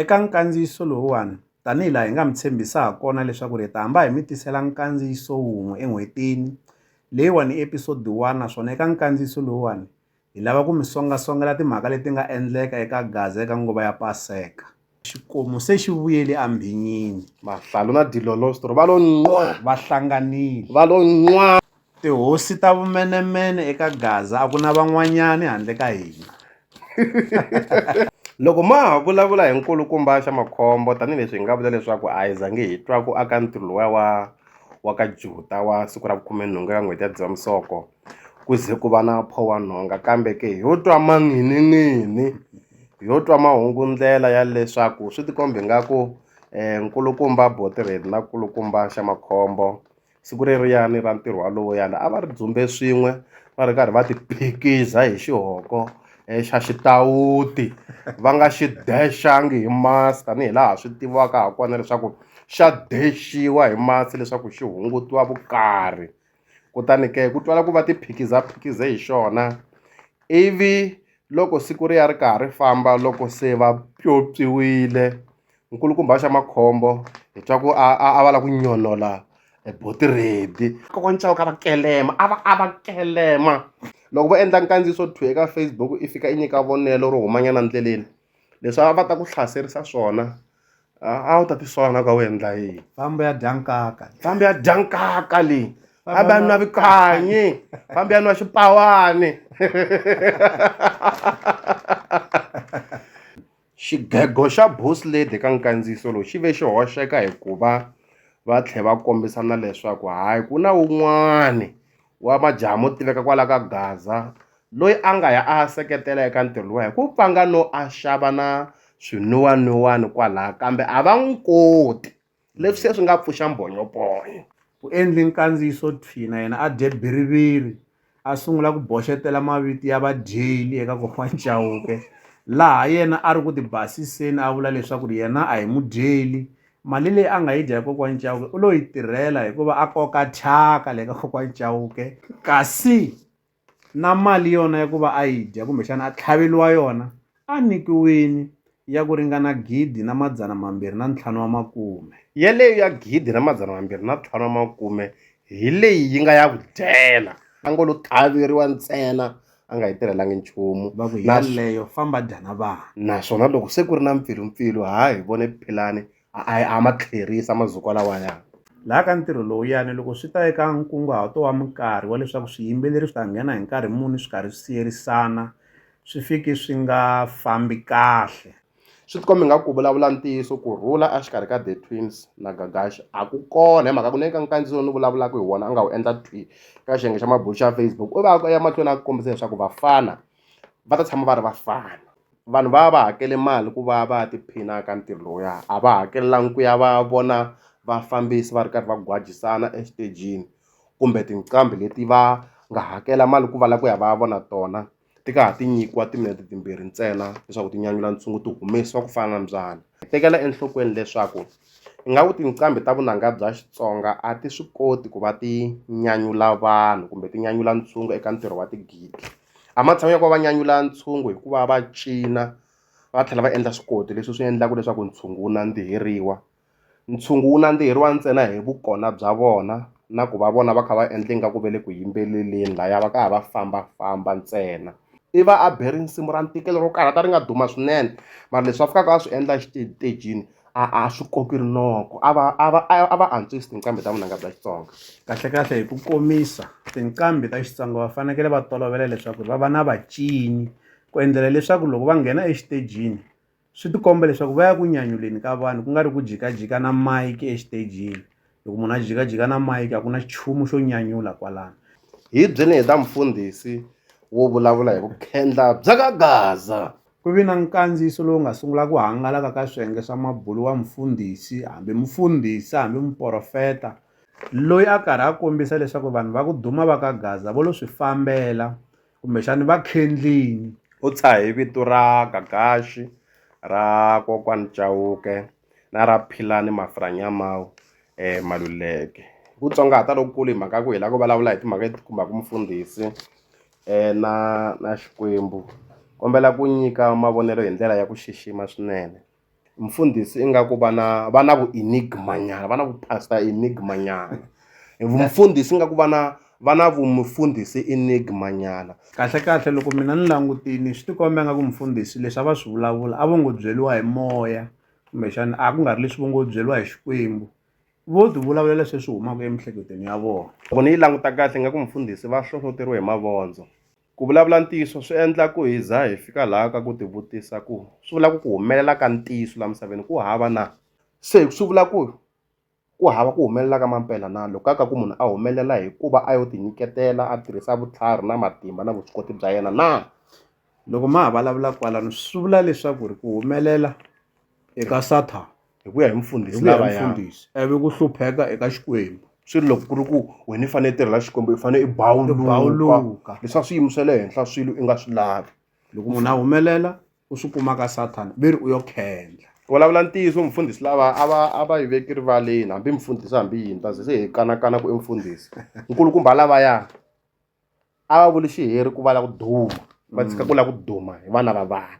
Eka nkandziyiso lowuwani, tanihi laha hi nga mi tshembisa ha kona leswaku hi ta hamba hi mi tisela nkandziyiso wun'we en'hwetini, leyiwani i episodi 1 naswona eka nkandziyiso lowuwani hi lava ku mi songa-songela timhaka leti nga endleka eka Gaza eka nguva ya Paseka. Xikomu se xi vuyele ambhinyini. Mahlalu na dilolosto va lo nqwa! Va hlanganile. Va lo nqwa! Tihosi ta vumenemene eka Gaza a ku na van'wanyani handle ka hina. Loko ma ha vulavula hi nkulukumba xa makhombo, tanihi leswi hi nga vula leswaku a hi zangi hi twa ku aka ntirho lowuya wa wa ka Juta wa siku ra vukhume-nhungu eka n'hweti ya Dzivamisoko ku ze ku va na phowanhonga, kambe ke ho twa manghininghini, ho twa mahungu-ndlela ya leswaku swi tikomba ingaku nkulukumba Botered na nkulukumba xa makhombo siku reriyani ra ntirho walowuyani a va ri dzumbe swin'we va ri karhi va ti phikiza hi xihoko eh, xa xitawuti va nga xi dexangi hi masi tanihi laha swi tiviwaka ha kona leswaku xa dexiwa hi masi leswaku xi hungutiwa vukarhi kutani ke ku twala ku va ti phikiza phikize hi xona ivi loko siku ri ya ri karhi ri famba loko se va pyopyiwile nkulukumba xa makhombo hi twa ku a a va lava ku nyonola boti redi kokwani chauke a va kelema a va a va kelema loko vo endla nkandziyiso two eka facebook i fika i nyika vonelo ro humanyana ndleleni leswi a va ta ku hlaserisa swona a wu ta tisola na ka wu endla yini fambi ya dya nkaka fambi ya dya nkaka leyi fambi ya nwa vikanyi fambi ya nwa xipawani Xigego xa Boss Lady eka nkandziyiso lowu xi ve xi hoxeka hi ku va va tlhe va kombisa na leswaku hayi ku na wun'wani wa majaha mo tiveka kwala ka Gaza loyi a nga ya a ya seketela eka ntirho luwa hi ku pfanga no a xava na swinwiwanwiwani kwalaya kambe a va n'wi koti. leswi se swi nga pfuxa mbhonyophonya ku endli nkandziyiso thwi na yena a dye biriviri a sungula ku boxetela mavito ya vadyeli eka kokwana Chauke laha yena a ri ku ti basiseni a vula leswaku ri yena a hi mudyeli mali leyi a nga yi dya hi kokwana Chauke u lo yi tirhela hikuva a koka thyaka le ka kokwana Chauke kasi na mali yona ya ku va a yi dya kumbexana a tlhaveriwa yona a nyikiwile ya ku ringana gidi na madzana mambirhi na ntlhanu wa makume. Yaleyo ya gidi na madzana mambirhi na ntlhanu wa makume hi leyi yi nga ya ku dyela. A ngo lo tlhaveriwa ntsena a nga yi tirhelangi nchumu. Va ku yaleyo famba dya na vana. Naswona loko se ku ri na mpfilumpfilu ha hi vone Philani a ma tlherisa mazukwa lawaya laha ka ntirho lowuyani loko swi ta eka nkunguhato wa minkarhi wa leswaku swiyimbeleri swi ta nghena hi nkarhi muni swi karhi swi siyerisana swi fiki swi nga fambi kahle swi tikomba nga ku vulavula ntiyiso ku rhula exikarhi ka the twins na gagash a ku kona hi mhaka ku neka nkandziso ni vulavulaka hi wona a nga wu endla twi ka xiyenge xa mabulo xa facebook u va ya mahlweni a ku kombisa leswaku vafana va ta tshama va ri vafana vanhu va va va hakele mali ku va va ya tiphina ka ntirho lowuya a va hakelanga ku ya va ya vona vafambisi va ri karhi va gwajisana exitejini kumbe tinqambi leti va nga hakela mali ku va lava ku ya va ya vona tona ti ka ha ti nyikiwa timinete timbirhi ntsena leswaku ti nyanyula ntshungu ti humesiwa ku fana na mbyana. Hi tekela enhlokweni leswaku ingaku tinqambi ta vunanga bya Xitsonga a ti swi koti ku va ti nyanyula vanhu kumbe ti nyanyula ntshungu eka ntirho wa tigidi. A matshan'wini ya ku va va nyanyula ntshungu hi ku va va cina va tlhela va endla swikoti leswi swi endlaka leswaku ntshungu wu nandziheriwa. Ntshungu wu nandziheriwa ntsena hi vukona bya vona na ku va vona va kha va endla ingaku va le ku yimbeleleni lahaya va ka ha va fambafamba ntsena. i va a be risimu ra ntikelo ro karhata ri nga duma swinene mara leswi a fikaka a swi endla exitejini a a swi koki rinoko a va a va a va antswisa tinqambi ta vunanga bya Xitsonga kahlekahle hi ku komisa tinqambi ta Xitsonga va fanekele va tolovela leswaku va va na vacini ku endlela leswaku loko va nghena exitejini swi tikomba leswaku va ya ku nyanyuleni ka vanhu ku nga ri ku jikajika na mike exitejini loko munhu a jikajika na mike a ku na xichumu xo nyanyula kwalano hi byini hi ta mufundhisi wo vulavula hi vukhendla bya ka gaza ku vi na nkandziyiso lowu nga sungula ku hangalaka ka swiyenge swa mabulu wa mufundhisi hambi mufundhisi hambi muporofeta loyi a karhi a kombisa leswaku vanhu va ku duma va ka gaza vo lo swi fambela kumbexani va khendlini u tshahe vito ra gagaxi ra kokwani cawuke na ra philani mafiranyamawu um maluleke ku tsongahata lokukulu hi mhaka ku hi la ku vulavula hi timhaka leti khumbaka mufundhisi um na na xikwembu kombela ku nyika mavonelo hi ndlela ya ku xixima swinene mfundhisi ingaku va na va na vu enigma nyana va na vu pastor enigma nyana mfundhisi ingaku va na va na vu mufundhisi enigma nyana kahle kahle loko mina ni langutini swi tikomba nga ku mfundhisi leswi a va swi vulavula a vo ngo byeliwa hi moya kumbexana a ku nga ri leswi vo ngo byeliwa hi xikwembu vo ti vulavulela sweswi humaka emihleketweni ya vona loko ni yi languta kahle nga ku mfundhisi va hlohloteriwe hi mavondzo. Ku vulavula ntiyiso swi endla ku hi za hi fika laha ka ku tivutisa ku swi vula ku ku humelela ka ntiyiso laha misaveni ku hava na? Se swi vula ku ku hava ku humelela ka mampela na? Loko ka ka ku munhu a humelela hi ku va a yo tinyiketela a tirhisa vutlhari na matimba na vuswikoti bya yena na? Loko ma ha vulavula kwalano swi vula leswaku ri ku humelela. eka Sathana hi ku ya hi mufundhisi hi ku ya hi mufundhisi ivi ku hlupheka eka Xikwembu swi ri loko ku ri ku wena i fanele i tirhela Xikwembu i fanele i bawuluka leswaku swiyimo swa le henhla swilo i nga swi lavi loko munhu a humelela u swi kuma ka Sathana ve ri u yo khendla vulavula ntiyiso mufundhisi lava a va a va yi veki rivaleni hambi mufundhisi hambi yini ta ze se hi kanakana ku i mufundhisi nkulukumba lavaya a va vuli xiheri ku va la ku duma va tshika ku la ku duma hi vana va vanhu